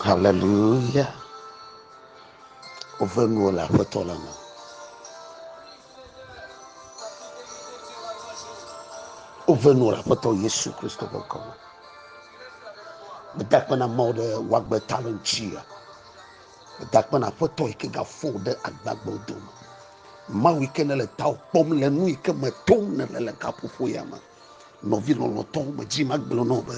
Haleluya! Woʋẽ nuwo le Aƒetɔ la me. Woʋẽ nuwo le Aƒetɔ Yesu Kristo ƒe ŋkɔ me. Meda akpe na Mawu ɖe wòagbe ta le ŋutia. Meda akpe na Aƒetɔ yi ke gafɔ wò ɖe agbagbewo dome. Mawu yi ke nèle tawò kpɔm le nu yi ke me tom nèle le gaƒoƒo ya me. Nɔvi lɔlɔ̃tɔ, medzi magblɔ na wò be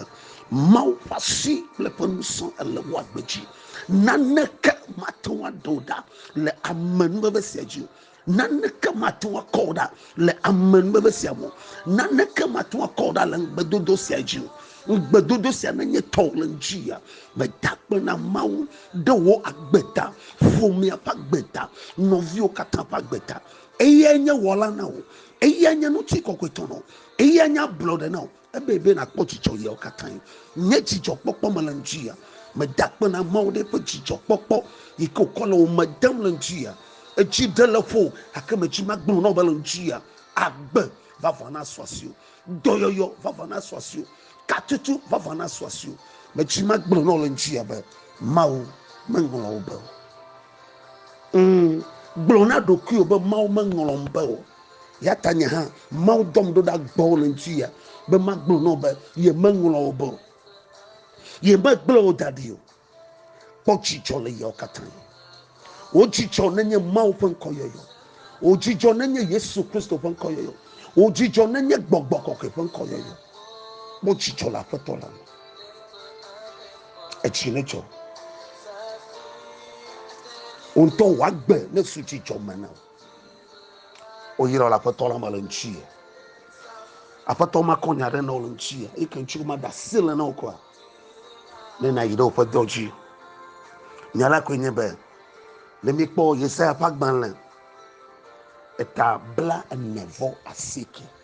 Mawu ƒe asi kple ƒe ŋusẽ ele wò agbe dzi. Naneke mate ŋu aɖe wò ɖa le ame nubebe sia dzi o. Naneke mate ŋu akɔ wò ɖa le ame nubebe sia me o. Naneke mate ŋu akɔ wò ɖa le ŋugbedodo sia dzi o. Ŋugbedodo sia nenye tɔwò le ŋdzi ya, meda akpe na Mawu ɖe wò agbe ta, ƒomea ƒe agbe ta, nɔviwo katã ƒe agbe ta. Eyae nye Wɔla na wò. Eya nye ŋutikɔkɔe tɔ na wò. Eya nye ablɔɖe na wò. Ebe be nàkpɔ dzidzɔ ɣeawo katã. Nye dzidzɔkpɔkpɔ me le ŋdi ya. Meda akpe na Mawu ɖe eƒe dzidzɔkpɔkpɔ yi ke wòkɔ le wò me dem le ŋdi ya. Edzi ɖe le ƒo gake medzi magblɔ na wò be le ŋdi ya, agbe vavã nasu asiwò. Dɔyɔyɔ vavã nasu asiwò. Katutu vavã nasu asiwò. Medzi magblɔ na wò le ŋdi ya be Mawu meŋlɔ wò be o. Ŋ, gblɔ na ɖokuiwò be Mawu meŋlɔm be o. Yata nye hã Mawu dɔm ɖo ɖa gbɔwò le ŋutia be magblɔ na wò be ye meŋlɔ wò be o. Ye megblẽ wò da ɖi o. Kpɔ dzidzɔ le yɔ katã. Wò dzidzɔ nenye Mawu ƒe ŋkɔ yɔyɔ. Wò dzidzɔ nenye Yesu Kristo ƒe ŋkɔ yɔyɔ. Wò dzidzɔ nenye Gbɔgbɔ Kɔkɔe ƒe ŋkɔ yɔyɔ. Kpɔ dzidzɔ le Aƒetɔ la me. etsi ne dzɔ wo ŋutɔ wòagbe ne su tsi dzɔ me na wo oyira le aƒetɔ la me le ŋuti ye aƒetɔ ma kɔ nya ɖe na wo le ŋuti ye eke ŋuti ma da asi le na wo kura ne na yi ɖe woƒe dɔ dzi nya la koe nye be ne mi kpɔ yesaya ƒe agbalẽ eta bla ene vɔ asike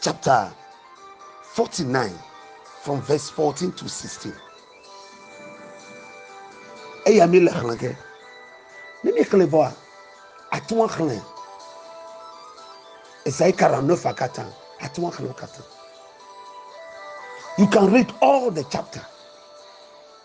chapter 49 from verse 14 to 16 eya mi le xlẽ ke ne mi xlẽ vɔa atún xlẽ esayi kara ne fa katã atún xlẽ katã you can read all the chapter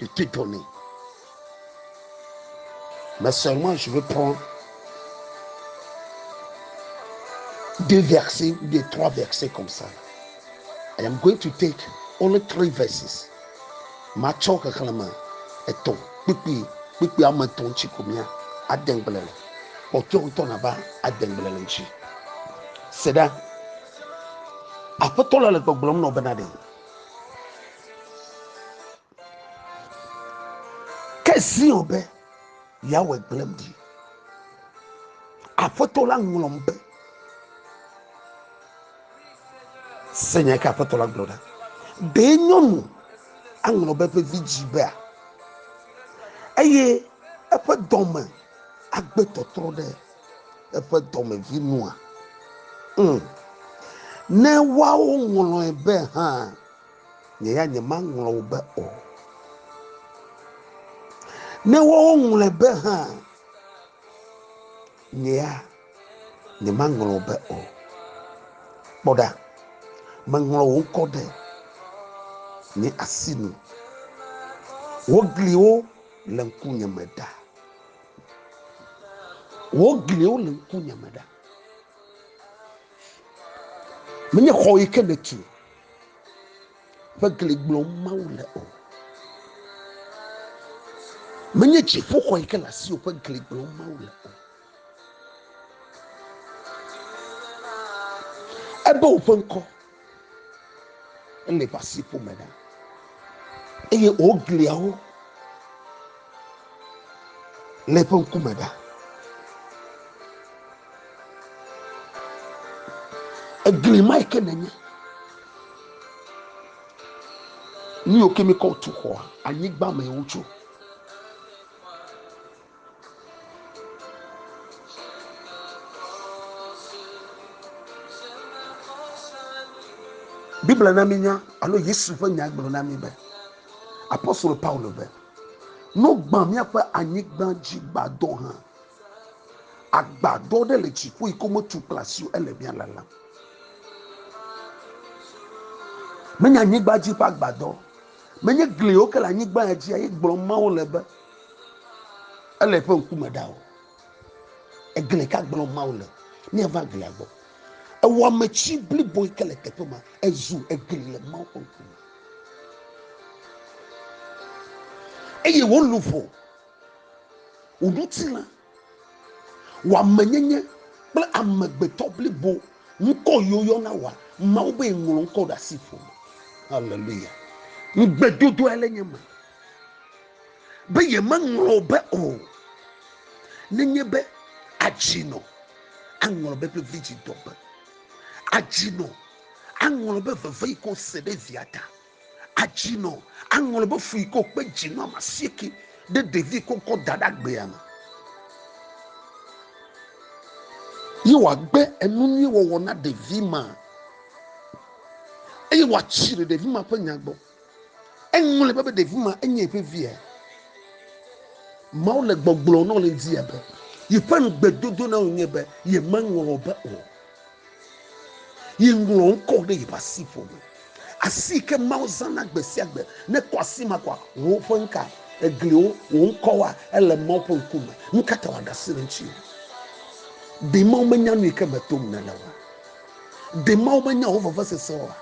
Des petites données. Mais seulement je veux prendre deux versets ou bien trois versets comme ça. I am going to take only three verses. Matsɔ xexlẽme etɔ̃ kpukpui kpukpui ame etɔ̃ ŋuti ko mía ade ŋugble le. Kpɔtɔ ŋutɔ nava ade ŋugble le ŋuti. Se ɖa. Aƒetɔ la le gbɔgblɔm nɔ bena ɖe. Ke Zion be, Yahweh gblẽm ɖi. Aƒetɔ la ŋlɔm be, Se nya ke Aƒetɔ la gblɔ ɖa. Ɖe nyɔnu aŋlɔ be eƒe vidzĩ bea? Eye eƒe dɔme agbe tɔtrɔ ɖe eƒe dɔmevi nua? Ŋ, ne woawo ŋlɔe be hã, nye ya nyemaŋlɔ wo be o. Ne woawo ŋlɔe be hã, nye ya nyemaŋlɔ wo be o. Kpɔ ɖa, meŋlɔ wò ŋkɔ ɖe nye asi nu. Wò gliwo le ŋkunye me ɖa. Wò gliwo le ŋkunye me ɖa. Menye xɔ yi ke nètu ƒe gli gblɔm Mawu le o. Menye dziƒoxɔ yi ke le asiwò ƒe gli gblɔm Mawu le o. Ebe woƒe ŋkɔ Ele ƒe asi ƒome ɖa eye wogliawo le eƒe ŋkume ɖa. Egli ma yi ke nenye nu yiwo ke mi kɔ tu xɔa anyigba me wotso. Biblia na mínya alo Yesu ƒe nya gblɔ na mí be apostolo Paulo be no gbã míaƒe anyigba dzi gbadɔ hã. Agbadɔ ɖe le dziƒo yi ke wometu kple asi o ele mía lalam. Menye anyigba dzi ƒe agbadɔ, menye gliwo ke le anyigba ya dzi ye gblɔm Mawu le be ele eƒe ŋkume ɖa o egli ka gblɔm mawu le míava glia gbɔ ewɔmetsi blibo yi ke le teƒe ma ezu egli le mawu ƒe ŋkume eye wò luʋɔ wò ŋutilã Wɔamenyenye kple amegbetɔ blibo ŋkɔ yiwo yɔna wɔa Mawu be ŋlɔ ŋkɔ ɖe asi ƒo me. Haleluya. Ŋugbedodoa le nye me be yemeŋlɔ be o. Nenye be adzinɔ aŋlɔ be ƒe vidzidɔ be. Adzinɔ aŋlɔ be veve yi ke wose ɖe via ta. Adzi nɔ aŋlɔ be fu yi ke wòkpe dzi nɔ ame asieke ɖe ɖevi ko ŋkɔ da ɖe agbea me. Ye wòagbe enu nyui wɔwɔ na ɖevi ma eye wòatsi ɖe ɖevi ma ƒe nya gbɔ. Eŋlɔe be be ɖevi ma enye eƒe via. Mawu le gbɔgblɔ nɔ le ŋdi be yeƒe ŋugbedodo na wò nye be yemeŋlɔ be o. yi ŋlɔ ŋkɔ ɖe yeƒe asiƒo me asi yi ke mawo zãna gbe sia gbe ne kɔ asi ma kɔa wò ƒe ŋka egliwo wò ŋkɔwoa ele mawo ƒe ŋkume nu ka ta wòaɖe asi ɖe ŋuti ɖe mawo menya nu yi ke me tom nèle oa ɖe mawo menya wò vevesese oa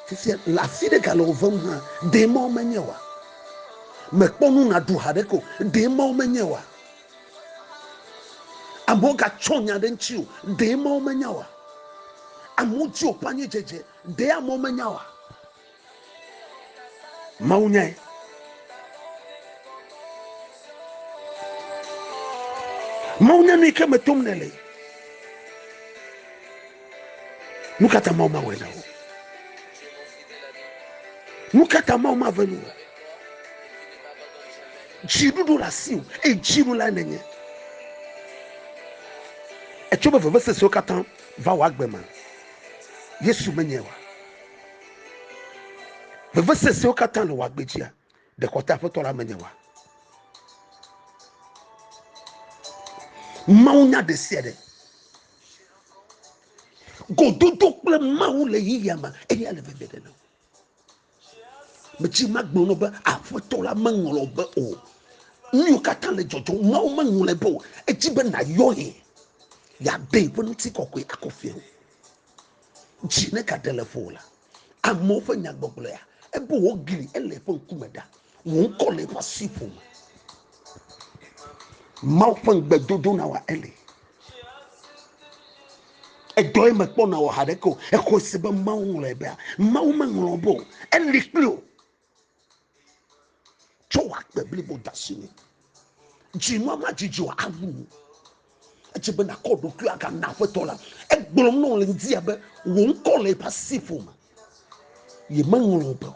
fifia le afi ɖe gale wò vem hã ɖe mawo menye oa mèkpɔ nu nàɖu ha ɖeke o ɖe mawo menye oa Amewo gatsɔ nya ɖe ŋuti o, ɖee Mawu menya oa? Amewo di woƒe anyidzedze, ɖee amewo menya oa? Mawu nyae. Mawu nya nu yi ke me tom nèle. Nu ka ta Mawu mawɔe na wò? Nu ka ta Mawu mave nu o? Dziɖuɖu le asiwò, eye dziɖulae nènye. Ètsɔ woƒe vevesesewo katã va wò agbe me. Yesu menyae oa? Vevesesewo katã le wò agbe dzia? Ɖe xɔte Aƒetɔ la menyae oa? Mawu nya ɖe sia ɖe. Gododo kple Mawu le yiyia me, eya le vevieɖe na wò. medzi magblɔ nɔ be aƒetɔ la meŋlɔ be o nuyiwo katã le dzɔdzɔm mawo meŋlɔe be o edzi be nayɔ ye yade ƒe ŋuti kɔkɔe akɔ fia dzi ne gaɖe le ƒo la amewo ƒe nyagbɔgblɔa ebe wogli ele ƒe ŋkume ɖa Wò ŋkɔ le eƒe asi ƒo me. Mawu ƒe ŋugbedodo na wòa Eli. Edɔe mekpɔ na wò haɖeke o. Exɔe se be Mawu ŋlɔe bea. Mawu meŋlɔ be o. Eli kpli o. Tsɔ wò agbe blibo de asi nɛ. Dzinua madzidzi o awu wò. Edze be nàkɔ ɖokui aga na aƒetɔ la. Egblɔm na wò le ŋdi abe wò ŋkɔ le eƒe asi ƒome. Yemeŋlɔ be o.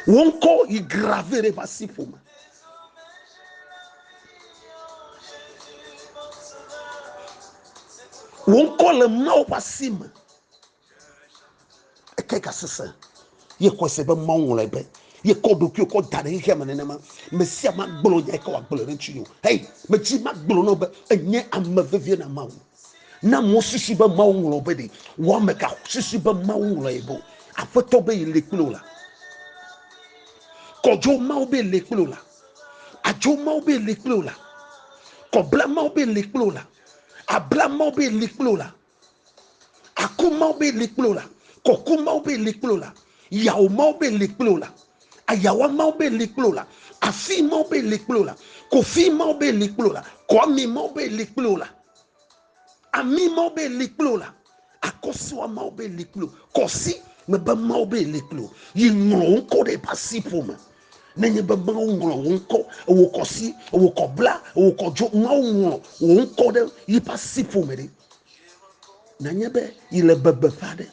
Wò ŋkɔ yi grave ɖe eƒe asi ƒome. Wò ŋkɔ le Mawu ƒe asi me. Eke gasesẽ. Ye xɔe se be Mawu ŋlɔe be ye kɔ ɖokui kɔ da ɖe xexea me nenema. Me sia ma gblɔ nya ke wòagblɔ ɖe ŋuti o. Hei, medzi magblɔ nɔ be enye ame vevie na Mawu. Na amewo susu be Mawu ŋlɔ be ɖe wɔame ka susu be Mawu ŋlɔ ye be o. Aƒetɔ be yi le kple wò la. Kɔdzo Mawu be le kple wò la. Adzo Mawu be le kple wò la. Kɔbla Mawu be le kple wò la. Abla Mawu be le kple wò la. Àkɔ Mawu be li kple wò la, kɔkɔ Mawu be li kple wò la, yawò Mawu be li kple wò la, ayawa Mawu be li kple wò la, afi Mawu be li kple wò la, kofi Mawu be li kple wò la, kɔami Mawu be li kple wò la, ami Mawu be li kple wò la, akɔsua Mawu be li kple wò, kɔsi mebe Mawu be li kple wò, yi ŋlɔ wò ŋkɔ ɖe eƒe asiƒome me. nenye be Mawu ŋlɔ wò ŋkɔ, wò kɔsi, wò kɔbla, wò kɔdzo, Mawu ŋlɔ wò ŋkɔ ɖe yiƒe asiƒo me ɖi. Nanye be yi le bebe ƒe aɖe.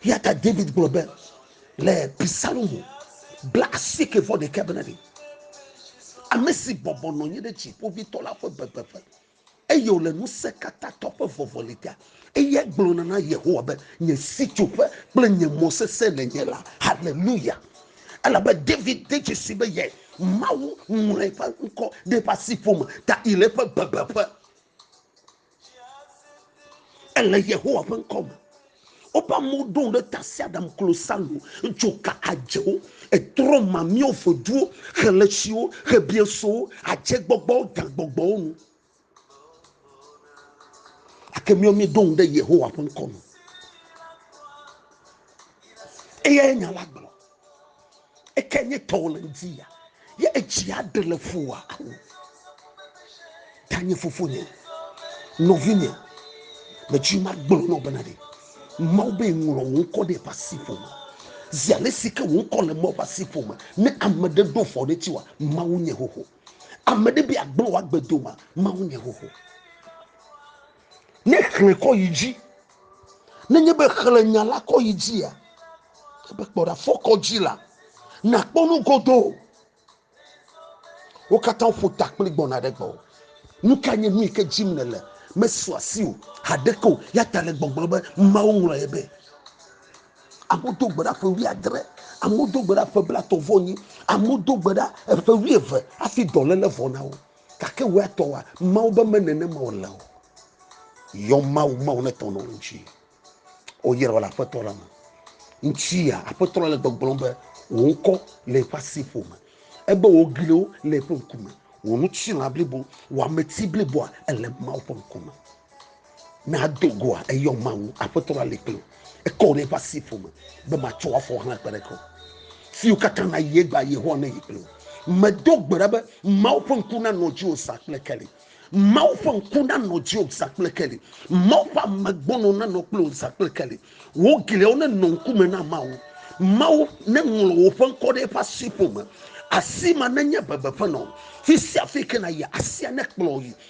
Ya ta David gblɔ be le Psalmo bla asieke vɔ ɖekɛ bena ɖi. Ame si bɔbɔ nɔ anyi ɖe dziƒovitɔ la ƒe bebeƒe. eye wòle Ŋusẽkatãtɔ ƒe vɔvɔli ta. Eyae gblɔna na Yehowa be, Nye sitsoƒe kple nye mɔ sesẽ nènye la. Haleluya! Elabe David de dzesii be yae. Mawu ŋlɔ eƒe ŋkɔ ɖe eƒe asiƒo me ta yi le eƒe bebeƒe. Ele Yehowa ƒe ŋkɔ me. Woƒe amewo ɖo ŋu ɖe tasiaɖam, klosalo, dzoka, adzewo, etrɔ̃ mamɛawo, ƒeduwo, xeletsiwo, xebiesowo, adzegbɔgbɔwo, gagbɔgbɔwo ŋu. Gake míawo míeɖo ŋu ɖe Yehowa ƒe ŋkɔ nu. Eyae nya la gblɔ. eke nye tɔwo le ŋdi ya ye etsi aɖe le ƒo wa awo ta nye fofo nye nɔvi nye metsi ma gblɔ nɔ bena ɖe mawu be ŋlɔ wo ŋkɔ ɖe eƒe asi ƒo me zi ale si ke wo ŋkɔ le mawu ƒe asi ƒo me ne ame ɖe ɖo fɔ ɖe ti wa mawu nye xoxo ame ɖe bi agblɔ wa gbedo ma mawu nye xoxo Ne xlẽ kɔ yi dzi. Nenye be xlẽ nya la kɔ yi dzia, ebe kpɔ ɖa fɔ kɔ dzi la, nàkpɔ nu godoo. Wo katã ƒo ta kpli gbɔna ɖe gbɔwò. Nu ka nye nu yi ke dzim nèle? Mesu asi o haɖeke o. Ya ta le gbɔgblɔ be Mawu ŋlɔ ye be. Amewo do gbe ɖa ƒe wuiadre, amewo do gbe ɖa ƒe blatɔ̃ vɔ nyi, amewo do gbe ɖa eƒe wuieve hafi dɔléle vɔ na wo. Gake wò ya tɔwòa, Mawu be me nenema wòle o. Yɔ Mawu, Mawu ne tɔ nɔ ŋuti. O yɛrɛ wòle aƒetɔ la me. Ŋuti ya, aƒetɔ la le gbɔgblɔm be wò ŋkɔ le eƒe asi ƒo me. Ebe wò gliwo le eƒe ŋkume. Wò ŋutilã blibo, wò ameti bliboa, ele Mawu ƒe ŋkume. Ne ado goa, eyɔ Mawu, Aƒetɔ la li kplim. Ekɔ wò ɖe eƒe asi ƒome, be matsɔ wò afɔ hlẽ kpe ɖe ke o. Fiwo katã nayi egbea, Yehowa neyi kple wò. Medo gbe ɖa be, Mawu ƒe ŋku nanɔ dziwò zã kple keli. Mawu ƒe ŋku nanɔ dziwò zã kple keli. Mawu ƒe ame gbɔnɔ nanɔ kple wò zã kple keli. Wò gliawo nenɔ ŋkume na Mawu. Mawu neŋlɔ wò ƒe ŋkɔ ɖe eƒe asi ƒome. Asi ma nenye bebeƒe na wò. Fi sia fi ke nàyia, asia nekplɔ wò yi.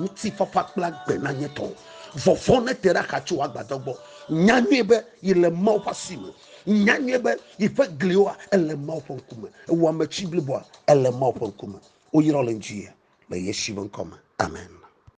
Ŋutifafa kple agbe nanye tɔ. Vɔvɔ̃ nete ɖe axa tso agbadɔ gbɔ. Nya nyuie be yele Mawu ƒe asi me. Nya nyuie be yeƒe glioa ele Mawu ƒe ŋkume. Ewɔ ame tsi bliboa ele Mawu ƒe ŋkume. Woyrɔ le ŋuti le Yesu ƒe ŋkɔ me. Amen.